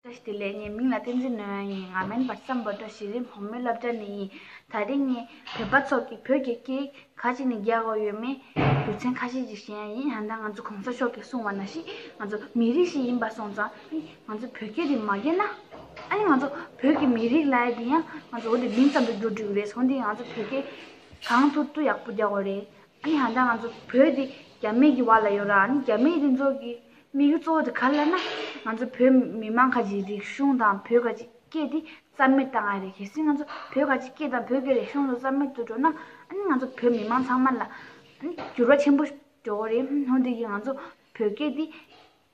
བཀྲ་ཤིས་བདེ་ལེགས་ངའི་མིང་ལ་བསྟན་འཛིན་ནོན་ཝན་ཡིན་ང་མོན་པར་སམ་བོད་དོ་གཞི་རིམ་བུ་མོའི་སློབ་གྲྭ་ནས་ཡིན་ད་རིང་ངས་བོད་པ་ཚོ་གིས་བོད་ཀྱི་སྐད་ཡིག་ག་ཅིག་ནས་རྒྱག་དགོས་ཡོད་མེད་རྒྱུ་མཚན་ཁ་ཤས་ཅིག་ཤེས་ཡ་ཡིན་ཡང་ད་ང་ཚོ་གོང་ས་མཆོག་གིས་གསུངས་བ་ན་ཞིག་ང་ཚོ་མི་རིགས་ཤིག་ཡིན་པ་སོང་ཙང་ང་ཚོ་བོད་སྐད་དེ་མ་རྒྱས་ན་ཨ་ནི་ང་ཚོ་བོད་ཀྱི་མི་རིགས་ལ་དེ་ཡང་ང་ཚོ་འོ་དེ་མིང་ཙམ་དུ་འགྱུར་འགྲོ་གི་རེད་ཟོ་འདི་ང་ཚོ་བོད་སྐད་གང་ཐུག་ཐུག་ཡག་པོ་རྒྱག་གོ་རེད་ཨི་ཧ་ད་ང་ཚོ་བོད་དེ་རྒྱ་མེད་ཀྱི་བར་ལ་ཡོད་ར་ཨ་ནི་རྒྱ་མེད་དེ་ཚོ་གི་དམིགས་ཡུལ་གཙོ་བོ་དེ་ག་ལ་ན་ང་ཚོ་བོད་མི་དམངས་ཁ་ཅིག་རིག་གཞུང་དང་བོད་ཁ་ཅིག་སྐད་དེ་རྩ་མེད་བཏང་ཡ་རེད་གལ་སྲིད་ང་ཚོ་བོད་ཁ་ཅིག་སྐད་དང་བོད་ཀྱི་རིག་གཞུང་ཚོ་རྩ་མེད་དུ་འགྲོ་ན་ཨ་ནི་ང་ཚོ་བོད་མི་དམངས་ཚང་མ་ལ་ཨ་ནི་འགྱུར་བ་ཆེན་པོ་འགྲོ་གོ་རེད་ཧོན་དེ་གི་ང་ཚོ་བོད་སྐད་དེ།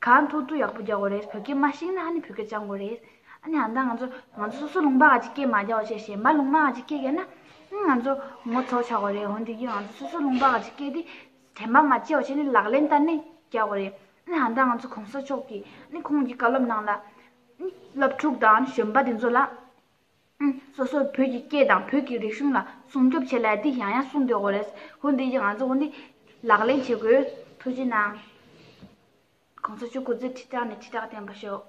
གང་ཐུག་ཐུག་ཡག་པོ་རྒྱག་དགོས་རེད་བོད་སྐད་མ་ཤེས་ན་ཧ་ནི་བོད་སྐད་སྦྱང་དགོས་རེད་ཨ་ནི་ཧ་ད་ང་ཚོ་ང་ཚོ་སོ་སོ་ལུང་པ་ག་གཅིག་སྐད་མ་རྒྱག་བ་བྱས་གཞན་པ་ལུང་མ་ག་གཅིག་སྐད་རྒྱག་ན་ཨང་ང་ཚོ་ངོ་ཚོགས་ཆག་དགོས་རེད་འོན་དེ་གིས་ང་ཚོ་སོ་སོ་ལུང་པ་ག་གཅིག་སྐད་དེ་དྲན་པ་མ་བྱས་བ་བྱས་ནས་ལག་ལེན་བསྟར་ནས་རྒྱག་དགོས་རེད་ཨ་ནི་ཧ་ད་ང་ཚོ་གོང་ས་མཆོག་གིས་ཨ་ནི་ཁོང་གི་བཀའ་སློབ་ནང་ལ་ཨ་ནི་སློབ་ཕྲུག་དང་གཞོན་པ་དེ་ཚོ་ལ། སོ་སོར་བོད་ཀྱི་སྐད་དང་བོད་ཀྱི་རིག་གཞུང་ལ་སྲུང་སྐྱོབ་བྱེད་སླད་དེ་ཡང་ཡང་གསུངས་དགོས་སྐོར་རེད། ཧོ་འདི་ཡིག་ང་ཚོས་འོན་ཏེ་ལག་ལེན་བྱེད་དགོས། ཐུགས་རྗེ་གནང། གོང་ས་མཆོག་སྐུ་ཚེ་ཁྲི་ཕྲག་ནས་ཁྲི་ཕྲག་བརྟན་པ་ཤོག།